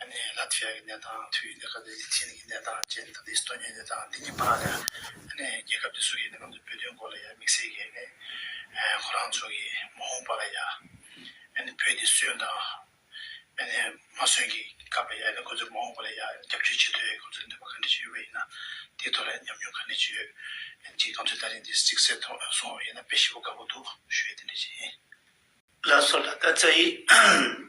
ཨ་ནེ་ལ་ཐི་ཡ་གི་གནས་སྟངས་དུས་ཡུན་དེ་ག་ནས་ལི་ཐི་ཡན་གྱི་གནས་སྟངས་ཅན་ད་ནི་སི་ཐོ་ཉིའི་གནས་སྟངས་འདི་གཉིས་མ་ལ་ཨ་ནེ་རྒྱལ་ཁབ་འདི་སུ་ཡི་ནང་དུ་འབོད་དོན་གོ་ལ་ཡ་དམིགས་བསལ་གྱི་ཨ་ནེ་ཁོ་རང་ཚོ་གི་མ་འོངས་པ་ལ་ཡ་ཨ་ནེ་བོད་འདི་སོན་དང་ཨ་ནེ་མ་སོན་གྱི་སྐབས་ལ་ཡ་ཨ་ནེ་ཁོ་ཚོའི་མ་འོངས་པ་ལ་ཡ་རྒྱབ་སྐྱོར་བྱེད་འདོད་ཁོ་ཚོའི་འདོད་པ་ག་འདྲ་ཞིག་ཡོད་པ་ཡིན་ན་དེའི་ཐོག་ལ་ཡ་ཉམས་མྱོང་ག་འདྲ་ཞིག་ཡོད་ཨེ་མཆིས་ང་ཚོའི་ད་རིང་འདི་གཟིགས་གསལ་ཐོག་ལ་སོང་བ་ཡིན་ན་དཔེ་ཞིབ་པོ་དགའ་པོ་འདུག་ཞུ་ཡིག་འདི་འདྲ་ཞིག་ཡིན། བླ་སྲོག་ལ་ལྟ་ཚ་ཡིས།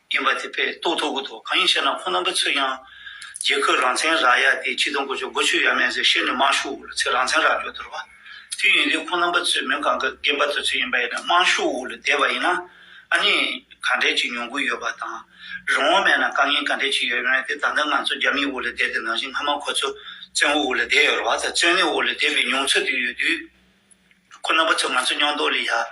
ཡིན་པ་དེ་པས་རྟོགས་ཐུབ་གི་འདུག་གང་ཡིན་ཞེ་ན་ཁོང་རྣམ་པ་ཚོས་ཀྱང། རྒྱལ་ཁོད་རང་བཙན་རག་ཡ་དེ་ཁྱི་དང་གོ་ཆོད་སྒོ་ཆོད་ཡ་མེད་ཟེར་བཤད་ནས་དམངས་ཤུགས་འུར་ལ་ཚེ་རང་བཙན་རག་རྒྱུ་དོར་བ། དུས་ཡིན་དུས་ཁོང་རྣམ་པ་ཚོས་མི་གང་གི་རྒན་པ་དེ་ཚོ་ཡིན་པ་ཡིན་ན་དམངས་ཤུགས་འུར་ལ་བསྡད་པ་ཡིན་ན། ཨ་ནི། ག་འདྲས་ཀྱི་མྱོང་གུད་ཡོད་པ་དང། རང་དབང་མེད་ན་དཀའ་ངལ་ག་འདྲས་ཀྱི་ཡོད་མེད་དེ་ད་ལྟ་ང་ཚོ་རྒྱ་མིའི་འུར་ལ་བསྡད་དེ་ནང་བཞིན་སྔ་མ་ཁོ་ཚོ་བཙན་བོ་འུར་ལ་བསྡད་ཡོད་རེད་བ་དང་བཙོན་ལས་འུར་ལ་བསྡད་པའི་མྱོང་ཚོད་དེ་ཡོད་དུས། ཁོ་རྣམ་པ་ཚོས་ང་ཚོ་སྙོག་འདོགས་ལས་ཡག།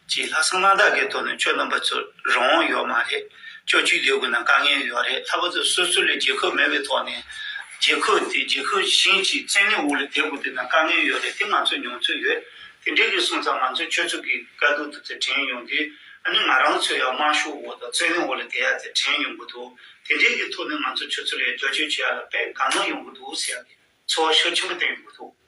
ཅེས་ལྷག་བསམ་རྣམ་དག་གིས་དོར་ནས་ཁྱོད་རྣམ་པ་ཚོ་རང་དབང་ཡོད་མ་རེད། ཁྱོད་ཆུད་དུས་དགོས་ན་དཀའ་ངལ་ཡོད་རེད་ལྷག་པ་ཚོས་སོ་སོ་ལས་རྒྱལ་ཁབ་མེད་པའི་ཐོག་ནས། རྒྱལ་ཁབ་དེ་རྒྱལ་ཁབ་གཞན་གྱི་བཙན་གནོན་འོག་ལ་བསྡད་དགོས་དུས་ན་དཀའ་ངལ་ཡོད་རེད་དེ་ང་ཚོས་མྱོང་ཚོད་ཡོད། དེ་འདྲའི་རིགས་སོང་ཙང་ང་ཚོས་ཁྱོད་ཚོ་གི་དཀའ་སྡུག་དེ་ཚོ་དྲན་ཡོང་དུས་ཨ་ནི་ང་རང་ཚོ་ཡང་དམར་ཤོག་འོག་དང་བཙན་གནོན་འོག་ལ་བསྡད་ཡ་དེ་དྲན་ཡོང་གི་འདུག་དེ་འདྲའི་གི་ཐོག་ནས་ང་ཚོ་ཁྱོད་ཚོ་ལས་བསྒྱུར་བཅོས་བྱེད་ཡ་ལ་དཔེ་གང་ན་ཡོང་གི་འདུག་ཟེར་ཡ་གི་ཚོར་བ་ཤུགས་ཆེན་པོ་བསྟན་ཡོང་གི་འདུག།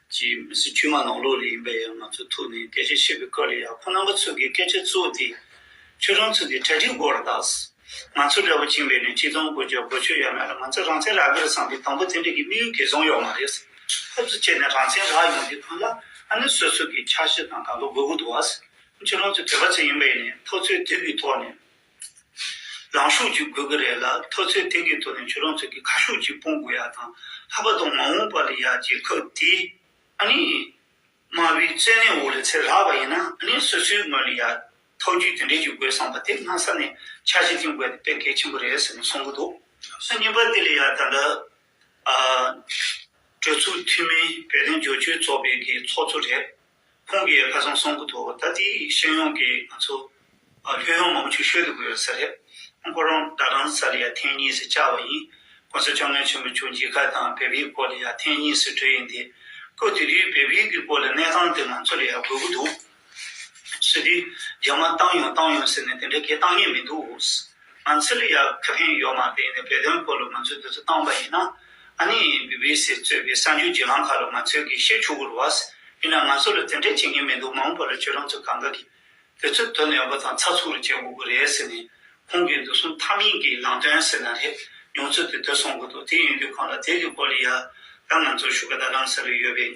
ཅི་མི་སྲིད་དཀྱུས་མ་ནང་ལོགས་ལས་ཡིན་པ་ཡང་ང་ཚོའི་ཐུགས་ནས་སྐད་ཆ་བཤད་པའི་སྐབས་ལ་ཡག་ཁོ་རྣམ་པ་ཚོས་ཀྱི་སྐད་ཆ་གཙོ་བོ་དེ། ཁྱོད་རང་ཚོས་ཀྱི་གྲ་སྒྲིག་སྒོ་ར་དག། ང་ཚོ་འདྲ་བོ་བྱིངས་པའི་ནས་གཅིག་དང་གོ་རྒྱ་གོ་ཆོད་ཡ་མེད་ལ་ང་ཚོ་རང་བཙན་རག་གི་རེད་བསམ་སྟེ་དང་པོ་དེ་འདྲ་གི་དམིགས་ཡུལ་གལ་ཆུང་ཡོག་མ་རེད། ཕེབས་བསུ་བྱས་ནས་རང་བཙན་རག་ཡོང་དུས་ཁོ་ལ་ཨ་ནི་སོ་སོ་ཀྱི་འཆར་གཞི་དང་དགའ་གོ་དགོས་གོ་འདུག་བ། ཁྱོད་རང་ཚོ་བོད་པ་ཚོ་ཡིན་པའི་ནས་ཐོག་ཚོའི་དུས་ཀྱི་ཐོག་ནས། རང་ཤུགས་ཀྱིས་དགོས་ཀྱི་རེད་ལ་ཐོས་ཚོད་དེ་གའི་ཐོག་ནས་ཁྱོད་རང་ཚོས་ཀྱི་ཁ་ཤུགས་ཀྱིས་སྤོང་དགོས་ཡག་དང་ལྷག་པ་དང་མ་འོངས་པ་ལ་ཡག་ཅེས་ཁོས་དེ་ཨ་ནི། དམའ་བའི་རྩེ་ནས་འོག་ལ་ཚེར་ལྷག་པ་ཡིན་ན་ཨ་ནི་སོ་སོའི་ངོས་ལ་ཡག་ཐོག་རྒྱུས་དེ་འདྲས་ཀྱི་དགོས་བསམ་པ་དེ་སྔ་ས་ནས་ཆགས་ཤིང་དེང་དགོས་དེ་དཔེ་གལ་ཆེན་པོ་རེད་ཟེར་ནས་གསུང་གི་འདུག་སུ་རྙིང་པ་དེ་ལས་ཡག་ད་འདྲ། གྲོས་ཚོགས་འཐུས་མི་བོད་དོན་སྦྱོར་བཅོས་ཚོགས་པའི་གའི་ཚོགས་གཙོ་རེད། ཁོང་གིས་ཁ་སང་གསུངས་གི་འདུག་ད་ལྟའི་ཤེས་ཡོན་གྱི་ང་ཚོ་ལྷོད་ཡོང་མང་པོ་ཆུ་ཤོད་དུ་གོ་ཡོད་ས་རེད། ཁོ་རང་ཟླ་གྲངས་གསར་ལ་ཡར་འཐེན་གཉིས་སུ་བཅར་བ་ཡིན། ཁོང་ཚོ་བཅོ་ལྔའི་ཆུ་མི་ཆུ་མཇལ་ཁ་དང་བལ་བོའི་སྐོར་ལ་ཡར་འཐེན་གཉིས་སུ་བྲོས་ཡོད་འདི། ཁོས་དེ་དུས་བལ་བོའི་གི་སྐོར་ལ་གནས་སྟངས་དེ་ང་ཚོ་ལ་ཡར་དགོས་ཀྱི་འདུག་ཟེར་དུས་རྒྱ་དམར་བཏང་ཡོང་བཏང་ཡོང་ཟེར་ནས་དེ་འདྲ་གས་བཏང་ངེས་མི་འདུག། ང་ཚོས་ལ་ཡག་ཁ་ཕན་ཡོད་མ་བསྟན་ནས་བོད་དོན་སྐོར་ལ་ང་ཚོས་འདི་ཚོ་བཏང་པ་ཡིན་ན། ཨ་ནི་བྷི་བྷི་སི་གཙོས་པའི་གསར་འགྱུར་བརྗེ་ཁང་ཁག་ལ་ང་ཚོས་གིས་ཤེས་ཆོག་གུ་རུ་བཱས་ཡིན་ན་ང་ཚོ་ལ་དེ་འདྲས་བྱེད་མཁན་མི་འདུག་མ་འོངས་པ་ལ་ཁྱོད་རང་ཚོས་གང་དགའ་གིས་དེ་ཚོ་དོ་ནན་པོ་དང་ཚགས་ཚུགས་རེ་བྱེད་དགོས་ཀྱི་རེད་ཟེར་ནས་ཁོང་གིས་འདི་གསུང་ཐབས་མེད་ཀྱི་ནང་དོན་ཟེར་ན་རེད་མྱོང་ཚོད་དེ་ཐོས་སོང་གི་འདུག་དེ་ཡིན་དུས་ཁོང་ལ་དེ་གི་སྐོར་ལ་ཡ་རབས་ང་ཚོར་ཞུ་ག་དང་རང་ས་རེ་ཡོད་པས།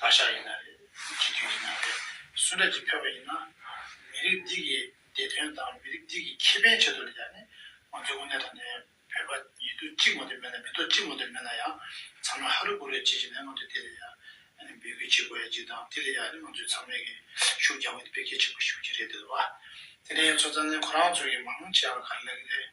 བརྡ་ཤ་ཡིན་ན་རེད་སྤྱི་འཐུས་ཡིན་ན་རེད་སུ་འདྲ་ཅིག་ཕེབས་པ་ཡིན་ན། མི་རིགས་འདི་གི་བདེ་དོན་དང་མི་རིགས་འདི་གི་ཁེ་ཕན་ཆེད་དུ་ལ་ཡང་ནི་ང་ཚོའི་དབུ་སྣེ་དང་ནི་བོད་པ་ཡིད་དུ་གཅིག་མ་འདོད་མེད་ན་མི་དོ་གཅིག་མ་འདོད་མེད་ན་ཡང་ཚང་མ་ཧ་རུ་གུ་རུ་བྱེད་བྱེད་ནས་ང་ཚོས་དེ་ལ་ཡང་ནི་འབོད་སྐུལ་བྱེད་དགོས་ཡ་གཅིག་དང་དེ་ལ་ཡང་ནི་ང་ཚོས་ཚང་མས་གི་ཤུགས་རྒྱག་དགོས་འདི་བེད་སྐྱེད་བྱེད་དགོས་ཤུགས་ཀྱི་རེད་འདོད་བ། དེ་ནས་ཚོ་ཙང་ནི་ཁོ་རང་ཚོ་གི་མང་ཆེ་བ་ག་རེ་ལ་གི་རེད།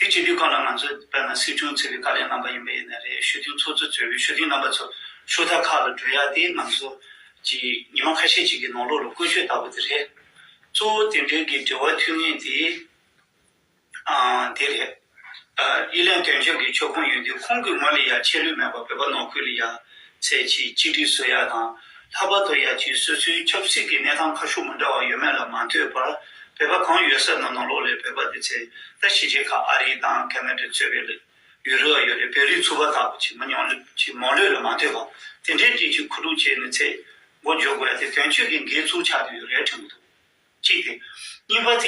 དེ་བྱེད་རྒྱུའི་སྐབས་ལ་ང་ཚོས་དཔེར་ན་སྲིད་སྐྱོང་ཚེ་བའི་བཀའ་ལན་གནང་པ་ཡིན་པ་ཡིན་ནི་རེད་ཞོ་སྟོན་ཚོགས་གཙོས་གཙོས་པའི་ཞོ་སྟོན་རྣམ་པ་ཚོ་ཤོ་རྩ་ཁག་ལ་བགྲོད་ཡ་དེ་ང་ཚོ་ཀྱི་ཉི་མ་ཁ་ཤས་ཅིག་གི་ནང་ལོགས་ལ་བཀོལ་སྤྱོད་ལྟ་བུ་དེ་རེད། གཙོ་བོ་དེ་འབྲེལ་གྱི་འབྲེལ་བ་མཐུད་ངེས་དེ་དེ་རེད། དབྱི་ལན་དོན་གཅོད་ཀྱི་ཕྱོགས་ཁོངས་ཡོད་དུས་ཁོང་གིས་ངོས་ལ་ཡ་ཆད་ལུས་མེད་པར་བོད་པ་ནོར་ཁུལ་ལ་ཡ་ཚེས་ཕྱེད་གཅིག་སྒྲིག་སྲོལ་ཡག་དང། ལྷག་པར་དུ་ཡ་ཆུའི་སོ་སོའི་ཆབ་སྲིད་ཀྱི་གནས་སྟངས་ཁ་ཤུགས་མི་འདྲ་བ་ཡོད་མེད་ལ་མ་ལྟོས་པར་བོད་པ་གང་ཡོད་ས་ན་ནང་ལོགས་ལས་བོད་པ་དེ་ཚེ་ད་གཞིས་བྱེས་ཁག་ཨ་རིའི་དང་གྷལ་མེ་དྲོད་ཚོད་བེད་ལ་ཡོད་རེ་བ་ཡོད་རེ་བོད་རིགས་ཚུ་བ་དག་གི་མི་ཉོང་ལོས་མོང་ལོས་ལ་མ་ལྟོས་པར་དེ་འདྲའི་སྒྲིག་གཅིག་ཁུ་དྲུག་བྱས་ནས་ཚེ་སྒོ་འཇོག་དགོས་ཡ་དེ་དོན་གཅོད་ཀྱི་འགལ་ཚུལ་ཆགས་དུས་རལ་ཕྲེང་བུ་འདུག་གཅིག་དེ། གཉིས་པ་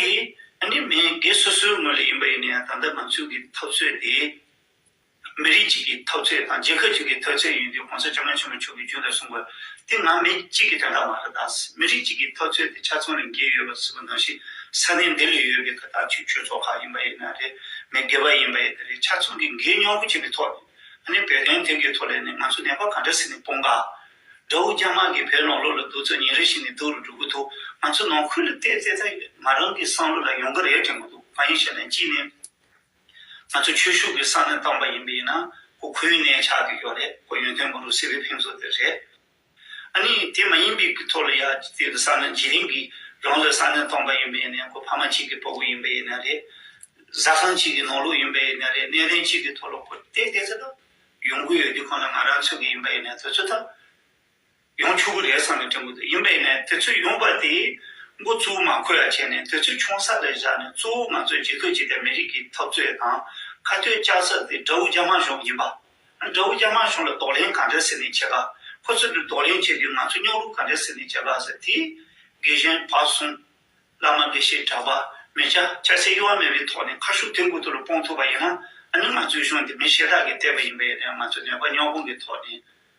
དེ། འདི་མི་སྒེར་སོ་སོའི་ངོས་ལ་ཡིན་པ་ཡིན་ན་ཡང་ད་ལྟ་ང་ཚོའི་གི་འཐབ་རྩོད་དེ། མི་རིགས་གཅིག་གི་འཐབ་རྩོད་དང་རྒྱལ་ཁབ་གཅིག་གི་འཐབ་རྩོད་ཡིན་དུས་གོང་ས་ལྕམ་རོང་ཆེན་མོ་མཆོག་གིས་རྒྱུན་དུ་གསུངས་པ། འདི་ང་མི་གཅིག་གི་དྲ་བདག་མ་རེད་ད། མི་རིགས་གཅིག་གི་འཐབ་རྩོད་དེ་ཆ་ཚང་རིང་གིས་ཡོད་པ་སུ་གི་ནང་བཞིན་ས་གནས་འདི་ལས་ཡོད་པའི་ཁ་ཐག་ཆོད་ཆོད་ཚོགས་ཁག་ཡིན་པ་ཡིན་ན་རེད་མི་དགེ་བ་ཡིན་པ་ཡིན་ད་རེད་ཆ་ཚང་གིས་འགན་ཉོག་པོ་བྱེད་པའི་ཐོག་ནས་ཨ་ནི་བོད་དོན་ཐད་ཀའི་ཐོག་ལས་ནས་ང་ཚོ་ནད་པ་ག་འདྲ་ཟེར་ནས་སྤོང་དཀའ། དགྲ་བོ་རྒྱ་དམག་གིས་བོད་ནང་ལོག་ལ་རྡུག་རྩུབ་ཉིན་རེ་ཞིག་ནས་རྡུག་རུ་འགྲོ་གི་འདུག་ང་ཚོ་ནང་ཁུལ་ལ་བལྟས་བལྟས་ད་ཡོད་ང་རང་གི་བསམ་བློ་ལ་ཡོང་གི་རེད་དྲན་གི་འདུག་གང་ཡིན་ཞེ་ན་གཅིག་ནས། ང་ཚོ་ཆོས་ཞུགས་ཀྱི་ས་ནས་བཏང་པ་ཡིན་པས་ན་ཁོ་ཁོའི་གནས་ཆགས་ཀྱི་ཡོད་རེད་ཁོ་ཡོན་ཏན་མོ་རུ་སི་བའི་ཕན་ཚུན་དེ་རེད། ཨ་ནི་དེ་མ་ཡིན་པའི་གི་ཐོག་ལ་ཡ་དེ་གི་ས་ནས་འཇིགས་རིང་གི་རང་ལོའི་ས་ནས་བཏང་པ་ཡིན་པས་ན་ཁོ་ཕ་མ་གཅིག་གི་པོ་གུ་ཡིན་པས་ན་རེད། བཟའ་ཁང་གཅིག་གི་ནོར་ལུག་ཡིན་པས་ན་རེད་གནས་གཏན་གཅིག་གི་ཐོག་ལ་ཁོ་བལྟས་བལྟས་ཚེ་ད་ཡོང་གི་ཡོད་དུས་ཁོ་ན་ང་རང་ཚོད་ཀྱི་ཡིན་པས་ན་དུས་ཚོད་ད་ཡང་ཆུ་བོ་རེ་བསགས་ནས་བྲན་པོ་དེ་ཡིན་པས་ནས་དེ་ཚོས་ཡོང་པར་དེའི་མགོ་གཙོ་བོ་མ་ཁོལ་ཡ་བྱས་ནས་དེ་ཚོས་ཆུང་ས་རེ་བཞག་ནས་གཙོ་བོ་ང་ཚོའི་རྗེས་ཐོ་བྱས་ཏེ་མི་རིགས་ཀྱི་འཐབ་རྩོད་དང་ཁ་གཏོད་བཅག་ས་དེ་དགྲ་བོ་རྒྱ་དམར་གཞུང་ཡིན་པ། དགྲ་བོ་རྒྱ་དམར་གཞུང་ལ་དོགས་ལན་ག་འདྲ་ཟེར་ནས་བྱས་པ་ཁོ་ཚོས་དེ་དོགས་ལན་བྱས་དུས་ང་ཚོས་རྙོག་རུ་ག་འདྲ་ཟེར་ནས་བྱས་པ་ཟེར་དེ། དགེ་གཞན་བག་ཟུང། བླ་མ་དགེ་བཤེས་གྲྭ་པ་མི་སྐྱ་ཁྱད་སའི་གཡོ་བ་མེད་པའི་ཐོག་ནས་ཁ་ཤུབས་དེ་འགོ་དུ་ལ་སྤོང་ཐུབ་པ་ཡིན་ན་ཨ་ནི་ང་ཚོའི་གཞུང་དེ་མི་ཤེས་དག་གིས་བལྟས་པ་ཡིན་པས་ནས་ང་ཚོས་ནད་པ་རྙོག་དཔུང་གི་ཐོག་ནས་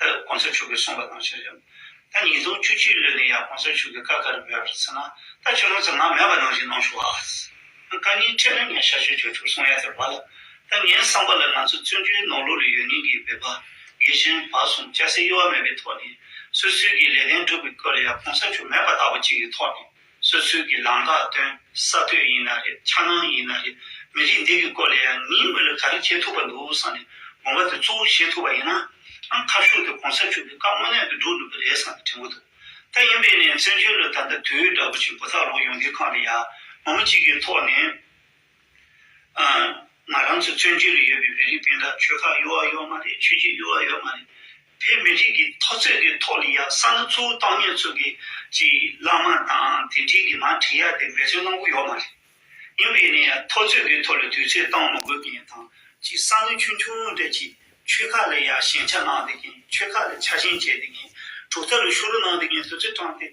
ཏུ་གོང་ས་མཆོག་གིས་གསུངས་པ་དང་ཆ་འཇམ། ད་ཉིས་སྟོང་བཅུ་གཅིག་ལོ་ནས་ཡང་གོང་ས་མཆོག་གིས་བཀའ་ག་རེ་འབུལ་བར་ཚུད་ན་ད་ཆོས་ལོ་ཙམ་ན་མེད་པ་ནང་བཞིན་གནང་ཞུ་ཨཱ། བཀའ་རྙིང་ཁྲེལ་མེད་ངས་ཤར་ཆོས་བརྗོད་ཆོག་གསུངས་ཡ་དེ་བ་ལ། ད་ངའི་བསམ་པ་ལ་ང་ཚོ་བཙོན་འཇུག་ནང་ལོགས་ལ་ཡོད་ཉིན་གྱི་བོད་པ་དགེ་བཤེས་བར་གསུམ་སྐྱ་སེར་གཡོ་བ་མེད་པའི་ཐོག་ནས་སོ་སོའི་གི་ལས་དོན་སྒྲུབ་པའི་སྐོར་ལ་ཡང་གོང་ས་མཆོག་མེད་པ་ལྟ་བུ་ཅིག་གི་ཐོག་ནས་སོ་སོའི་གི་ལམ་དག་སྟོན་ས་ལྟོས་ཡིན་ན་རེད་འཆར་སྣང་ཡིན་ན་རེད་མི་རིགས་འདི་གི་སྐོར་ལ་ཡང་ངའི་མི་ལ་ག་རེ་བྱེད་ཐུབ་པ་འདུག་བསམ་ནས་དགོངས་པ་དེ་གཙོ་བོ་བཞེས་ཐུབ་པ་ཡིན་ནའང་ཁ་ཤུགས་དེ་གོང་ས་མཆོག་གི་བཀའ་དངོས་གནས་དུ་འགྲུབ་ནུས་པ་རེད་བསམ་པའི་དྲན་པོ་འདུག་ད་ཡིན་པས་ནས་བཙན་བྱོལ་ལ་ད་ལྟ་དུས་ཡུན་འདྲ་པོ་ཆེན་པོ་ཐག་རོང་ཡོང་གི་ཁང་དེ་ཡང་ངོ་མ་གཅིག་གི་ཐོག་ནས་ང་རང་ཚོའི་བཙོན་བྱོལ་རུ་ཡོད་པའི་མི་རིགས་སྤུན་ཟླ་ཆོལ་ཁ་གཡོ་བ་གཡོ་མ་རེད་ཆོས་བརྒྱུད་གཡོ་བ་གཡོ་མ་རེད། ཕའི་མི་རིགས་ཀྱི་མཐོ་ཚད་ཀྱི་ཐོག་ལ་ཡང་ས་མཐོ་ཚོའུ་བཏང་ཉོས་ཚོ་གི་ཅི་བླ་མ་དང་དེ་འབྲེལ་གྱི་མ་དྲིས་ཡ་དེ་འབད་བརྩོན་གནང་གི་ཡོ་མ་རེད། ཡིན་པས་ནས་མཐོ་ཚད་ཀྱི་ཐོག་ལ་དུས་ཚོད་བཏང་མ་དགོས་ཀྱི་ཡིན་དང་ཅི་ས་མཐོ་ཆུང་ཆུང་འདྲ་ཅིག་ཆོལ་ཁ་ལ་ཡང་ཞེན་ཆ་གནང་དེ་གིན་ཆོལ་ཁ་ལ་ཆ་ཞེན་བྱས་དེ་གིན་གྲུབ་མཐའ་ལ་ཤུ་རུ་གནང་དེ་གིན་དུས་ཚོད་བཏང་སྟེ།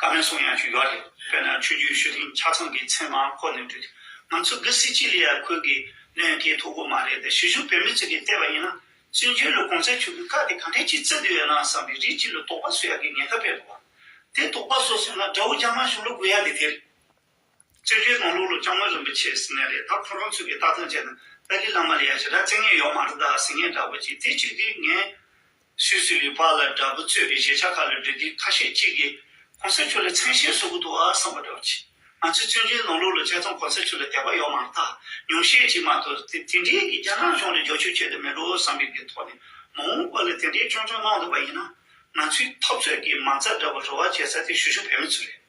བཀའ་མོལ་སོགས་ཡང་ཞུས་ཡོད་རེད། དཔེར་ན་ཆོས་བརྒྱུད་ཤོད་ཐེངས་ཆ་ཚང་གི་མཚན་མ་ཁོ་ནས་བྲིས། ང་ཚོ་གི་སི་ཅི་ལི་ཡ་ཁུལ་གྱི་གནས་མཁས་ཐོག་པོ་མ་རེད་དེ་ཞི་བཞུགས་བོད་མི་ཚོས་ཀྱིས་བལྟས་པ་ཡིན་ན། བཙན་བྱོལ་ལ་གོང་ཚད་ཆོས་བརྒྱུད་ཁག་དེ་ག་འདྲའི་ཆེ་བརྩེ་དུ་ཡོད་ན་བསམ་པའི་རིགས་གཅིག་ལ་དོགས་པ་བཟོ་ཡག་གི་ངན་ཁ་བེད་འདུག་བ། དེ་དོགས་པ་བཟོ་སོང་ན་དགྲ་བོ་རྒྱ་དམར་གཞུང་ལ་དགོས་ཡག་གི་དེ་རེད། བཙན་བྱོལ་དང་ལོག་ལོ་ལྕང་མོ་རིན་པོ་ཆེ་ཟེར་ངེས་རེད་ད་ཁོ་རང་ཚོས་གི་ལྟ་སྟངས་བྱས་ན་ཏཱ་ལའི་བླ་མ་ལ་ཡ་ཞེ་དྲག་བརྩེ་ངན་ཡོག་མ་རེད་ད་ཟེར་ངེས་འདྲ་བོ་གྱིས་དེ་ཅིག་དེ་ངན། སུས་སུས་ལུས་ཕག་ལ་དགྲ་བོ་རྩོད་པའི་གཞས་ཆག་ཁ་ལ་འབྲུ་དེ་ཁ་ཤས་གཅིག་གིས་གོང་ས་མཆོག་ལ་མཚན་གཞས་བཟོ་གི་འདུག་ཨ་བསམ་པ་འདྲ་བོ་གྱིས་ང་ཚོས་བཙན་བྱོལ་ནང་ལོག་ལོ་བྱས་ཙང་གོང་ས་མཆོག་ལ་དད་པ་ཡོག་མ་རེད་ད་ཉུང་ཤས་གཅིག་མ་གཏོགས་དེ་དེ་འདྲའི་གི་རྒྱ་ནག་གཞུང་ལ་འཇོག་ཆོག་ཆོག་དེ་མིན་འགྲོ་བསམ་པའི་གི་ཐོག་ནས་མ་འོངས་པ་ལ་དེ་འདྲའི་ཅོང་ཅོང་གནང་འདུག་པ་ཡིན་ན་ང་ཚོའི་འཐབ་རྩོད་གི་མང་ཚ་འདྲ་བོ་རུ་བ་བྱས་ས་དེ་ཞུ་ཞུ་བོད་མི་ཚོ་རེད།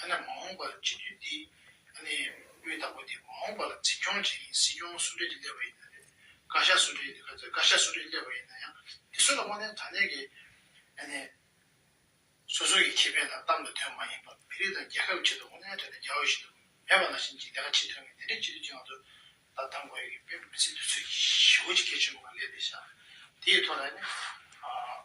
ཨ་ནི་མ་འོངས་པར་སྤྱི་འཐུས་འདི་ཨ་ནི་དབུས་དང་པོ་དེ་མ་འོངས་པར་འཛིན་སྐྱོང་བྱེད་མཁན་སྲིད་སྐྱོང་སུ་འདྲེ་དེ་སླེབས་པ་ཡིན་ན་རེད་བཀའ་ཤག་སུ་འདྲེ་བཀའ་བཀའ་ཤག་སུ་འདྲེ་སླེབས་པ་ཡིན་ན་ཡང་དེ་ཚོ་ལ་དངོས་གནས་དང་ལེན་གྱི་ཨ་ནི་སོ་སོ་ཡི་ཁེ་ཕན་དང་གཏམ་དང་དོན་མ་ཡིན་པར་མི་རིགས་དང་རྒྱལ་ཁབ་ཀྱི་ཆེད་དུ་དངོས་གནས་དོན་དུ་རྒྱ་འོས་ཤིན་ཏུ་མེད་པ་ནང་བཞིན་གྱི་ལས་ཀ་བྱེད་ཐུབ་མཁན་དེ་འདྲའི་སྤྱི་འཐུས་ཀྱི་ངང་དུ་ད་བདམས་དགོས་ཡོད་ཀྱི་དཔེ་མི་སྲིད་དུས་ཚོད་ཀྱི་ཞི་བོ་ཅིག་སྐད་ཆེན་པོ་གང་ལས་འདས་བཞག་དེ་ཡི་ཐོག་ལ་ཨ་ནི་ཨ།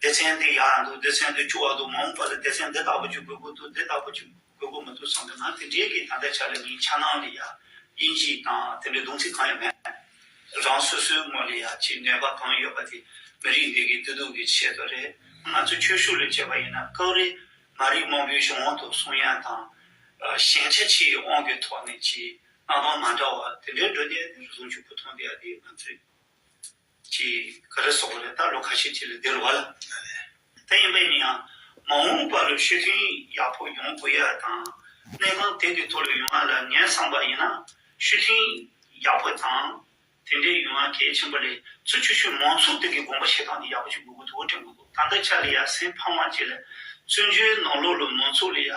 སྡེ་ཚན་འདི་ཡག་འདུག་སྡེ་ཚན་འདི་བཅུ་བ་འདུག་མ་འོངས་པ་ལ་སྡེ་ཚན་འདི་ལྟ་བུ་ཅིག་དགོས་མཁོ་འདུག་འདི་ལྟ་བུ་ཅིག་དགོས་མཁོ་མི་འདུག་བསམ་གྱི་ན་དེ་འདྲའི་གི་ད་ལྟའི་ཆ་ལ་ནི་འཆར་སྣང་ལས་ཡག་དབྱིན་ཇིའི་དང་དེ་འདྲའི་གདུང་ཚིག་གང་ཡང་མེད། རང་སོ་སོའི་ངོ་ལ་ཡག་ཅེས་ནུས་པ་གང་ཡོད་པ་དེ་མི་རིགས་འདི་གི་བདེ་སྡུག་གི་ཆེད་དུ་རེད། ང་ཚོ་ཆོས་ཞུགས་ལས་བྱེད་པ་ཡིན་ན་སྐབས་རེ་མ་རིག་མང་པོའི་གཞུང་དབང་དུ་གསུང་ཡན་དང། ཞན་ཆ་ཆེའི་དབང་གི་ཐོག་ནས་ཀྱི་མངའ་ཐང་མ་འདྲ་བ་དེ་འདྲའི་འགྲོ་བསྡད་ནས་རེ་ཟུང་ཆུ་བོ་ཐོན་བསྡད་ཡ་དེ་ང་ཚོའི། ཅེས་ག་རེ་སོགས་རེ་ད་ལོ་ཁ་ཤས་ཁྱེད་ལ་བདེ་རུ་བ་ལ། དེ་ཡིན་པའི་ནི་ཡང་མ་འོངས་པ་ལ་ཤུལ་ཐུན་ཡག་པོ་ཡོང་དགོས་ཡ་དང་གནས་སྟངས་དེ་འདི་ཐོག་ལ་ཡོང་ང་ལ་ངའི་བསམ་པ་ཡིན་ན་ཤུལ་ཐུན་ཡག་པོ་དང་དེ་འདྲས་ཡོང་ང་གལ་ཆེན་པོ་ལས་ཚུ་ཆུ་ཆུ་མང་ཚོགས་དེ་གི་དགོངས་པ་བཞེས་སྟངས་འདི་ཡག་པོ་ཞིག་དགོས་གོ་ཐུ་བོ་དྲན་གོ་འདུག་ད་ལྟ་ཆ་ལ་ཡ་སེམས་ཕངས་བ་བྱེད་ལ་བཙུན་ཆུའི་ནང་ལོག་ལ་མང་ཚོགས་ལ་ཡ་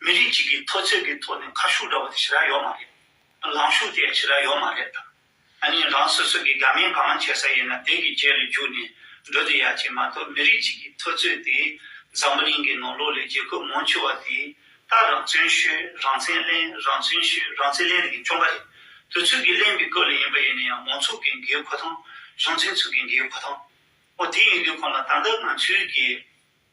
མི་རིགས་གཅིག་གི་མཐོ་ཚད་ཀྱི་ཐོག་ནས་ཁ་ཤུ་འདྲ་བོ་དེ་ཇི་རག་ཡོད་མ་རེད། ལངས་ཤུགས་དེ་ཡང་ཇི་རག་ཡོད་མ་རེད་དམ། གཉིས་རང་སོ་སོ་གི་དགའ་མིན་གང་མང་བྱེད་ས་ཡིན་ན་དེ་གི་རྗེས་ལ་རྒྱུགས་ནས་འགྲོ་དེ་ཡ་བྱེད་མ་གཏོགས་མི་རིགས་གཅིག་གི་མཐོ་ཚོད་དེ་འཛམ་བུ་གླིང་གི་ནང་ལོག་ལས་རྒྱལ་ཁབ་མང་ཆེ་བ་དེ་ལྟར་རང་བརྩོན་ཤོས་རང་བརྩན་གླེང་རང་བརྩོན་ཤོས་རང་བརྩན་གླེང་དེ་གི་བཅོམ་པ་རེད། དུས་ཚོད་ཀྱི་གླེང་བའི་སྐབས་ལ་ཡིན་པ་ཡིན་ན་ཡང་མང་ཚོགས་ཀྱི་འགའི་གོ་ཐང་གཞུང་ཚན་ཚོས་ཀྱི་འགའི་གོ་ཐང། འོ་དེ་ཡིན་དུས་གང་ལ་ད་ལྟ་ང་ཚོའི་གི།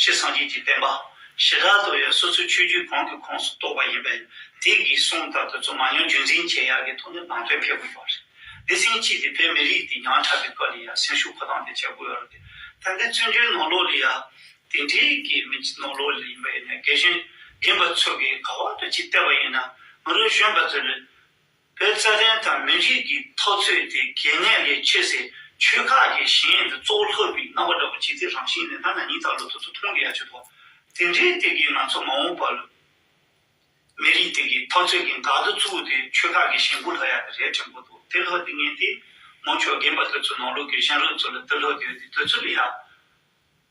ཞེས་སངས་རྒྱས་ཀྱི་བསྟན་པ་ཞི་དྲག་ཏུ་ཡང་སོ་སོའི་ཆོས་བརྒྱུད་གང་གི་ཁོངས་སུ་གཏོགས་པ་ཡིན་པས་དེ་གིས་གསུངས་ལྟར་དུ་རྩོམ་མ་ཉོན་རྒྱུན་འཛིན་བྱེད་ཡག་གི་ཐོག་ནས་ནང་དོན་འཕེལ་དགོས་པ་རེད། སྡེ་ཚན་གཅིག་དེ་བོད་མི་རིགས་འདི་ཉམས་ཆག་གི་སྐབས་ལ་ཡང་སེམས་ཤུགས་འཁོར་སྟངས་དེ་བྱེད་དགོས་ཡོད་རེད། ད་ལྟའི་བཙོན་འཇུག་ནོར་ལོག་ལི་ཡང་དེ་འདྲའི་གི་མི་ནོར་ལོག་ལི་ཡིན་པ་ཡིན་ན་རྒན་གཞོན་རྒན་པ་ཚོ་གིས་ག་བར་དུ་ཅིག་བལྟས་པ་ཡིན་ན་ང་རང་གཞོན་པ་ཚོ་ལས་བོད་རྩ་དོན་དང་མི་རིགས་ཀྱི་ཐོབ་ཚོད་དེ་གལ་གནད་ལས་ཆེ་སའི་ཆོལ་ཁ་གྱི་གཞན་དུ་གཙོ་བོ་ལྷག་པའི་རྣམ་པ་འདྲ་པོ་བྱེད་རྩིས་རང་བཞིན་ལས་ཐ་ན་ཉིན་ལྟར་ལོ་ཐོ་ཐོ་འཐུང་དགོས་ཡ་ཆོད་དོ། དེ་འདྲའི་སྟེ་གེ་ང་ཚོ་མ་འོངས་པར་ལོ། མི་རིགས་དེ་གི་ཐོབ་ཚོད་གི་འགག་རྡོ་བཙུགས་དེ་ཆོལ་ཁ་གི་གཞན་བུ་ལྷག་ཡ་གི་རས་བྲན་པོ་འདུག་དེ་ལྷག་དེ་ངན་དེ། མོ་ཆོ་རྒན་པ་དོལ་ཚོ་ནང་ལུགས་ཀྱི་གཞན་ལུགས་ཚོ་ལ་དེ་ལྷག་དེ་ཡོད་དེ་དོལ་ཚོ་ལ་ཡ།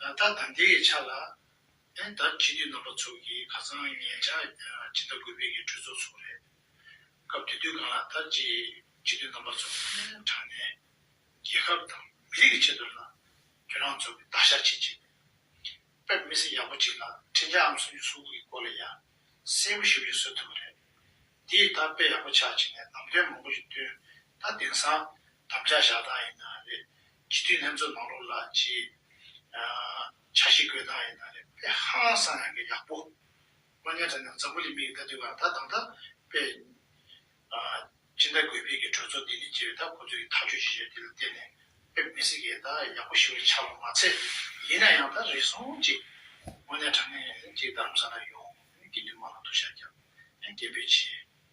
ལ་དྭགས་དང་དེ་ཡི་ཆ་ལ། ཨན་དར་སྤྱི་འཐུས་རྣམ་པ་ཚོ་གིས་ཁ་སང་ངེད་ཅག་སྤྱི་ཟླ་དགུ་པའི་གི་གྲོས་ཚོགས་ཚོགས་རེད། སྐབས་དེ་དུས་ཁང་ལ་དར་སྤྱི་སྤྱི་འཐུས་རྣམ་པ་ཚོ་ཨན་དྲགས་ནས། རྒྱལ་ཁབ་དང་མི་རིགས་ཀྱི་ཆེད་དུ་ལ། ཁྱོད་རང་ཚོ་གི་དག་ཞག་ཅིག་བྱེད་པའི། དཔེར་མི་སེར་ཡག་པོ་ཅིག་ལ་འཕྲིན་བཅའ་འམ་སུམ་ཅུ་སོ་དགུ་གི་སྐོར་ལ་ཡ། སེ་བུ་ཞིག་རེ་བཟོ་ཐུབ་པ་རེད། དེ་ཡིས་ད་དཔེ་ཡག་པོ་ཆགས་བྱས་ནས་ལམ་སྟོན་མང་པོ་ཞིག་བཏོན། ད་དེང་སང་དམ་བཅའ་བཞག་སྟངས་ཡིན་ན་རེད། སྤྱི་འཐུས་ལྷན་ཚོགས་ནང་ལོགས་ལ་ཅི་བྱ་ཞིག་དགོས་དང་ཡིན་ན་རེད་པས་ཧང་སང་ཡག་གི་ཡག་པོ། མ་ཉན་དྲ་ནང་འཛམ་བུ་ལི་མིག་ལྟ་དུས་གང་ད་དང་ད་པས་ཅི་འདྲ་དགོས་ཕེབས་ཀྱི་གྲོས་ཚོགས་འདི་ནས་ཅི་རེད་ད་ཁོ་ཚོས་ཀྱི་ཐག་གཅོད་ཅི་བྱས་དེ་ལ་བརྟེན་ནས་ཕེབས་མི་སྲིད་ཀྱི་ད་ཡག་པོ་ཞིག་ལ་ཆགས་པ་མ་ཚད་ཡིན་ན་ཡང་ད་རེ་ཟུང་ཅིག་མ་ཉན་དྲ་ནས་ཅིག་རྡ་རམ་ས་ལ་ཡོང་གི་འདུག་མ་ལ་ཐུག་ཤ་རྒྱག་ཡང་རྒྱལ་པོས་བྱེད།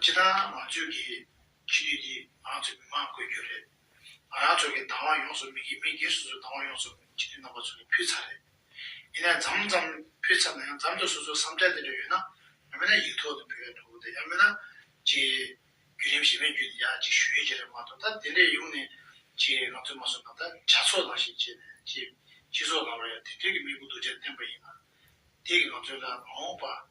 སྤྱི་དང་ང་ཚོས་ཀྱི་སྤྱི་འཐུས་འདི་ང་ཚོའི་མི་མང་བསྐོས་རྒྱུ་རེད། ང་རང་ཚོ་གི་དང་བ་ཡོངས་སུ་མི་མི་སྒེར་སོ་སོའི་དང་བ་ཡོངས་སུ་སྤྱི་འཐུས་རྣམ་པ་ཚོ་ལ་ཕུལ་ཚར་རེད། ཡིན་ནའི་འཛམ་ཙམ་ཕུལ་ཚར་ན་ཡང་འཛམ་དུ་སོ་སོའི་བསམ་འཆར་དེ་འདྲ་ཡོད་ན་ཡང་མེད་ན་ཡིག་ཐོག་ཏུ་འབུལ་བས་འགྲོ་གི་འདུག་ཡང་མེད་ན་ཅིག་བརྒྱུད་རིམ་ཞིབ་མས་བརྒྱུད་དེ་ཡང་ཅིག་ཞུ་ཡི་ཆེད་རེད་མ་གཏོགས་ད་དེ་འདྲའི་ཡོང་ནས་ཅིག་ང་ཚོས་མ་གསུངས་ན་ད་ཇག་ཚོགས་ནང་བཞིན་བྱས་ནས་ཅིག་སྤྱི་ཚོགས་ནང་ལ་ཡང་དེ་འདྲའི་གི་དམིགས་བུ་གདུལ་བྱ་བསྟན་པ་ཡིན་ན་དེ་གི་ང་ཚོའི་ལ་མ་འོངས་པ།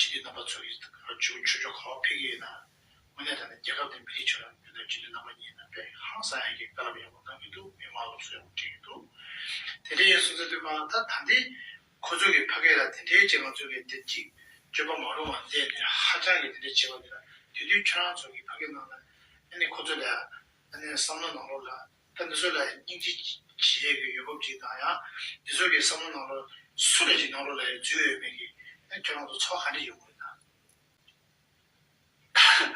ཕྱི་དྲིལ་རྣམ་པ་ཚོ་ཡིས་རང་བྱུང་ཆུ་ཆུ་ཁ་བ་འཕེལ་གྱི་ཡིན། དངོས་གནས་ད་ནི་རྒྱལ་ཁབ་དེ་མི་རིགས་ཆེ་ལ་མི་སྣ་ཕྱི་དྲིལ་རྣམ་པ་གཉིས་ནང་པས་ཧང་སང་ཡག་གི་དཀའ་རླབས་ཡག་པོ་གནང་གི་འདུག་མི་དམངས་སློབ་གསོ་ཡག་པོ་ཁྲིད་ཀྱི་འདུག་དེ་འདྲའི་ཡིན་སོང་ཚེ་དོན་མ་ད་ད་འདི་ཁོ་ཚོ་གི་ཕ་སྐད་ལ་དེ་འདྲའི་བྱེད་ང་ཚོ་གི་དེབ་ཅིག་བརྗོད་པ་མ་རུང་བ་འདས་ནས་ཧ་ཅང་གི་དེ་འདྲའི་བྱེད་པ་འདི་ལ་དུས་དུས་ཁྱོད་རང་ཚོ་གི་ཕ་སྐད་གནང་ན་ཨ་ནི་ཁོ་ཚོ་ལས་ཨ་ནི་བསམ་བློ་ནང་ལོག་ལ་ད་འདི་ཚོ་ལ་སྙིང་རྗེ་བྱེད་ཡས་ཀྱི་ཡོད་བབ་ཅིག་དང་ཡང་འདི་ཚོ་གི་བསམ་བློ་ནང་ལོ་སུ་ལ་ཅིག་ནང་ལོ་ལ་ཡང་འཛུལ་ཡོད་མེད་ཀྱི་ཁྱོད་རང་ཚོ་ཚོགས་ཧ་འདྲེ་ཡོད་དགོས་ན།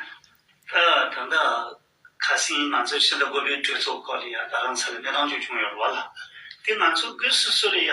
ད་ད་ལྟ་ཁ་སིང་ང་ཚོ་ཕྱི་ཟླ་དགུ་པའི་གྲོས་ཚོགས་སྐོར་ལ་ཡང་ད་རང་ས་ལ་གནས་སྟངས་ཅིག་བྱུང་ཡོད་རེད་བ་ལ། དེ་ང་ཚོ་སྒོས་སུ་སུ་ལ་ཡང་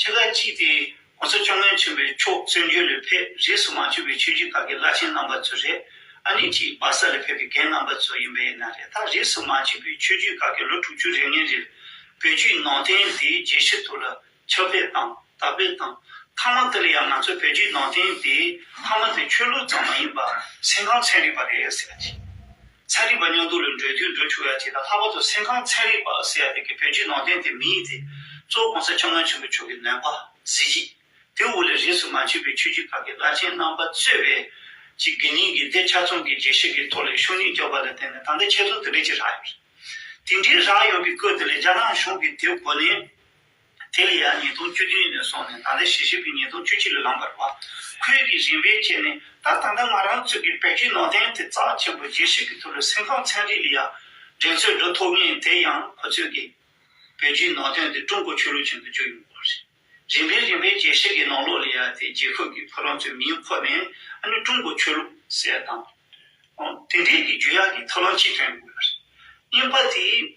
ཕྱེད་ཀ་གཅིག་སྟེ ྋགོང་ས་བཅོ་ལྔའི་མཆོད་པའི་ཕྱོགས་བརྩོན་འགྲུས་ལས་ཕེབས་རྗེས་སུ་མ་བཅོས་པའི་ཆོས་རྒྱུད་དག་གི་བླ་ཆེན་རྣམ་པ་ཚོ་རེད། ཨ་ནེ་གཅིག་སྦག་ས་ལས་ཕེབས་པའི་རྒན་རྣམ་པ་ཚོ་ཡིན་པས་ན་རེ་ད་རིས་སུ་མ་བཅོས་པའི་ཆོས་རྒྱུད་དག་གི་ལོ་དྲུག་ཅུ་རེ་ལྔའི་རིར་བོད་བརྒྱུད་ནང་བསྟན་དེའི་རྒྱས་ཤིག་ཐུགས་ལ་ཆགས་པས་དང་དག་པས་དང། ཐ་མ་དེ་ལ་ཡང་ང་ཚོ་བོད་བརྒྱུད་ནང་བསྟན་དེའི་ཐ་མ་དེ་ཆོས་ལུགས་ཙམ་མ་ཡིན་པར་སེམས་ཁམས་ཚན་རིག་པ་རེད་ཟེར་བ་ཅིག། ཚན་རིག་པ་སྙོག་འདུག་ལས་འགྲོའི་དུས་འགྲོ་ཆུ་བོའི་ཐིག་དང་ལྷག་པར་དུ་སེམས་ཁམས་ཚན་རིག་པ་ཟེར་བ་དེ་གི་བོད་བརྒྱུད་ནང་བསྟན་དེ་མི་ཡིག་དེ་གཙོ་བོ་གོང་ས་ཆེན་མོ་ཆེན་པོ་མཆོག་གི་ནོན་པ་གཟི་བརྗིད་དེ་དབུ་ལས་རིས་སུ་མ་མཆིས་པའི་ཆོས་བརྒྱུད་ཁག་གི་བླ་ཆེན་རྣམ་པ་གཙོས་པའི་ཀྱི་དགེ་རྙིང་གི་སྡེ་ཆ་ཚང་གི་རྗེས་ཤེས་ཀྱི་ཐོག་ལས་ཤུགས་སྣོན་རྒྱག་པ་ལ་བརྟེན་ནས་ད་ལྟ་ཆེ་མཐོང་དེ་འདྲའི་ཅིག་རག་ཡོད། དེ་འདྲའི་རག་ཡོད་པའི་སྐོར་དེ་ལས་རྒྱ་ནག་གཞུང་གིས་དེའི་གོ་ནན་དེ་ལ་ཡང་ཉིས་སྟོང་བཅུ་བདུན་ནས་སོང་ནས་ད་ལྟའི་ཞལ་ཞིབ་ཀྱི་ཉིས་སྟོང་བཅུ་གཅིག་ལ་ལངས་པར་བ་ཁོས་ཀྱི་རིན་པའི་ཆེད་ནས་ད་ལྟ་ད་ང་རང་ཚོས་ཀྱི་བེད་སྤྱོད་ནང་བསྟན་དེ་རྩ་ཆེན་པོ་རྒྱས་བཤད་ཀྱི་ཐུགས་ལ་སེམས་ཁམས་ཚན་རིག་ལ་ཡང་འགྲན་རྩོད་འགྲོ་ཐུབ་ངེས་དེ་ཡང་ཁོ་ཚོས་ཀྱི་བེད་སྤྱོད་ནང་བསྟན་དེ་ཀྲུང་གོ་ཆོས་ལུགས་ཅན་དུ་བསྒྱུར་ཡོང་དགོས་པ་རེད། རིན་པའི་རིན་པའི་རྒྱས་བཤད་ཀྱི་ནང་ལོགས་ལ་ཡང་དེ་རྒྱལ་ཁབ་ཀྱི་ཕོ་ལང་ཚོའི་མིང་ཁོ་ནས་ཨ་ནི་ཀྲུང་གོ་ཆོས་ལུགས་ཟེར་དང། དེ་འདྲའི་ཀྱི་རྒྱུ་ཡག་གི་ཐབས་ལམ་ཅི་ཐོན་དགོས་པ་རེད། གཉིས་པ་དེ།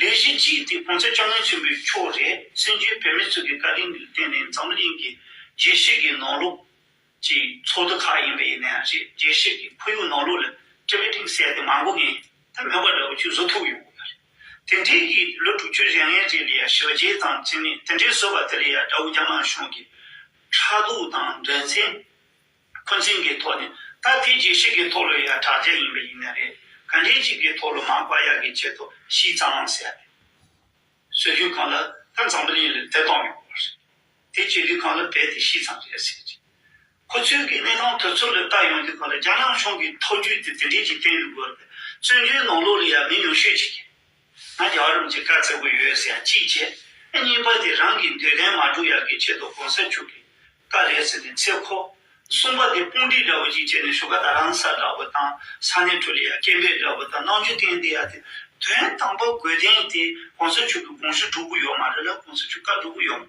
ལས་གཞི་གཅིག་དེ་གོང་ཚད་ཅུང་ངེས་ཅན་པོའི་ཕྱོགས་རེད་བཙན་བྱོལ་བོད་མི་ཚོས་ཀྱི་བཀའ་དྲིན་ལ་བརྟེན་ནས་འཛམ་གླིང་གི་རྒྱལ་གཞས་ཀྱི་ནང་ལོགས་ཀྱི་ཚོགས་འདུ་ཁག་ཡིན་པའི་ཡིན་ནའང་རེད་རྒྱལ་གཞས་ཀྱི་ཁོར་ཡུག་ནང་ལོགས་ལ་སྤྲེལ་བའི་གཏིང་གསལ་དེ་མ་མགོ་ངན་དེ་མོས་པ་འདྲ་བོ་ཁྱོད་བཟོ་ཐུབ་ཡོང་གི་ཡོད་རེད་དེ་འདྲའི་གིས་ལོ་དྲུག་ཅུ་རེ་ལྔའི་རྗེས་ལ་ཡང་ཞི་རྒྱས་དང་བཅས་ནས་དེ་འདྲའི་བཟོས་པ་དེ་ལ་ཡང་དགྲ་བོ་རྒྱ་དམར་གཞུང་གིས་ཕྲག་དོག་དང་འགྲན་རྩེད། ཁོ་འཛིན་གྱི་ཐོག་ནས་ད་ལྟའི་རྒྱས་བཤད་ཀྱི་ཐོག་ལོ་ཡ་དྲག་རྒྱ་ཡིན་པ་ཡིན་ན་རེད། ག་འགྲེལ་གཅིག་གི་ཐོག་ལོ་མང་བར་ཡ་གི་ཆེད་དུ་ཤིས་ཙང་མང་ཟེར་ཡ་རེད། ཟོས་དུས་གང་ལ་ད་འཛམ་བུ་གླིང་ལ་བདེ་ཐང་ཡོང་བ་རེད། དེ་བྱས་དུས་གང་ལ་རྦད་དེ་ཤིས་ཙང་རེད་ཟེར་གྱི། ཁོ་ཚོའི་གི་གནས་སྟངས་དོལ་ཚོགས་ལ་བལྟ་ཡོང་དུས་གང་ལ་རྒྱ་ནག་གཞུང་གི་ཐོག་རྒྱུས་དེ་དེ་འདྲས་ཀྱི་སྟེང་དུ་འགོས་པས་བཙོན་འཇུའི་ནང་ལོགས་ལ་ཡ་མི་ཉུང་ཤོས་ཅིག་ཡིན། ང་རྒྱ་རོམ་གྱི་དཀའ་ཚེགས་པོ་ཡོད་ཟེར་ཅིག་བྱས། གཉིས་པ་དེ་རང་གི་འདོད་ལན་མ་འགྲུབ་ཡག་གི་ཆེད་དུ་གོང་ས་མཆོག་གི་བཀའ་རེད་ཟེར་ནས་འཚེ་ཁོ། གསུམ་པ་དེ་དཔུང་སྒྲིག་འདྲ་པོ་ཅིག་བྱས་ནས་ཞུ་ཁ་དང་རང་ས་འདྲ་པོ་དང་ས་གནས་ཁྲོད་ལ་ཡ་སྐད་འབེབས་འདྲ་པོ་དང་གནང་རྒྱུ་བསྟན་དེ་ཡག་དེ། དོན་དམ་པ་དགོས་དོན་དེ་གོང་ས་མཆོག་གི་དགོངས་གཞི་འགྲུབ་གི་ཡོད་མ་རེད་ལ་གོང་ས་མཆོག་བཀའ་འགྲུབ་གི་ཡོད་མ།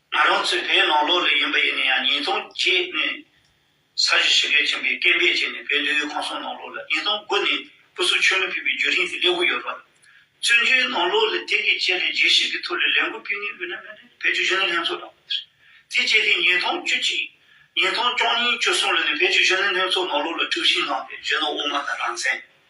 ང་རང་ཚོའི་བོད་ནང་ལོ་རེ་ཡིན་པ་ཡིན་ན་ཡང་ཉིས་སྟོང་བརྒྱད་ནས་ས་གཞི་ཕྱི་རྒྱལ་ཆེན་པོའི་སྐད་འབེབས་བྱས་ནས་བོད་འདི་ཡུལ་གང་སོང་ནང་ལོགས་ལ་ཉིས་སྟོང་དགུ་ནས་སྐུ་གཟུགས་ཆོས་ལུགས་ཕུད་པའི་རྒྱུད་རིང་དེ་སླེབས་འོ་ཡོད་རོགས། བཙུན་བྱོལ་ནང་ལོགས་ལ་དེ་གའི་ཆེད་ལས་རྒྱས་ཤིག་གི་ཐུགས་ལས་ལས་འགུལ་སྤེལ་ངེས་འོས་ན་མེད་ན་བེད་སྤྱོད་གཞོན་ནུ་ལྷན་ཚོགས་དང། དེ་བཅས་དེ་ཉིས་སྟོང་བཅུ་གཅིག། ཉིས་སྟོང་བཅོ་གཉིས་བཅུ་གསུམ་ལོ་ནས་བེད་སྤྱོད་གཞོན་ནུ་ལྷན་ཚོགས་ནང་ལོགས་ལ་དཀྲུགས་ཤིང་བསླངས་པའི་གཞོན་ནུ་དབུ་མ་དང་རང་བཙན།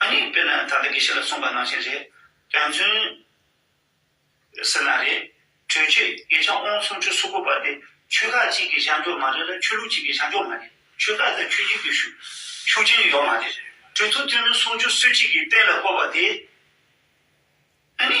ཨ་ནེ་དཔེར་ན་ད་ལྟ་དགེ་བཤེས་ལ་གསུངས་པ་ནང་བཞིན་རེད། རྒྱ་མཚོན། ཟེར་ན་རེད། གྲོས་ཆོད་དགེ་བྱང་ཨོང་སུམ་ཅུ་སོ་དགུ་པ་དེ་ཆོལ་ཁ་གཅིག་གི་བྱང་ཕྱོགས་མ་རེད་ལ་ཆོས་ལུགས་གཅིག་གི་བྱང་ཕྱོགས་མ་རེད། ཆོལ་ཁ་དང་ཆོས་གཅིག་ཏུ་ཤུགས་རྐྱེན་ཡོད་མ་རེད། གྲོས་ཐུགས་ཐུན་མིན་སུམ་ཅུ་སོ་གཅིག་གི་གཏན་ལ་བཀོད་པ་དེ། ཨ་ནེ།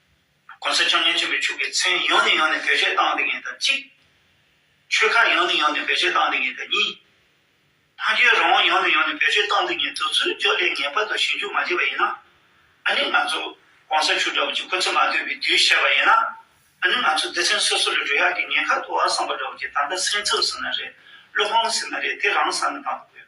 གོང་ས་བཅོ་ལྔའི་སྤྱི་འཐུས་ཆུ་ཁའི་མཚན་ཡོངས་ནས་ཡོངས་ནས་བེད་སྤྱོད་བཏང་འདི་ངེས་དང་གཅིག། ཆོལ་ཁ་ཡོངས་ནས་ཡོངས་ནས་བེད་སྤྱོད་བཏང་འདི་ངེས་དང་གཉིས། ཕ་རྒྱལ་རང་དབང་ཡོངས་ནས་ཡོངས་ནས་བེད་སྤྱོད་བཏང་འདི་ངེས་དུས་ཚོད་འཇོག་ལས་ངེས་པར་དུ་ཞིབ་འཇུག་མ་བྱས་པ་ཡིན་ན། ཨ་ནི་ང་ཚོ ྋགོང་ས་མཆོག་འདྲ་བོ་ཅིག་ཁོ་ཚོས་མ་ཐོས་པའི་དུས་བཤད་པ་ཡིན་ན། ཨ་ནི་ང་ཚོ་སྡེ་ཚན་སོ་སོ་ལ་འགྲོ་ཡག་གི་ཉེན་ཁ་དུ་བ་བསམ་པ་འདྲ་བོ་ཅིག་ད་ལྟ་སེམས་འཚབ་ཟིན་ན་རེད་བློ་ཕམ་ཟིན་ན་རེད་དེ་རང་ས་ནས་བཏང་དགོས།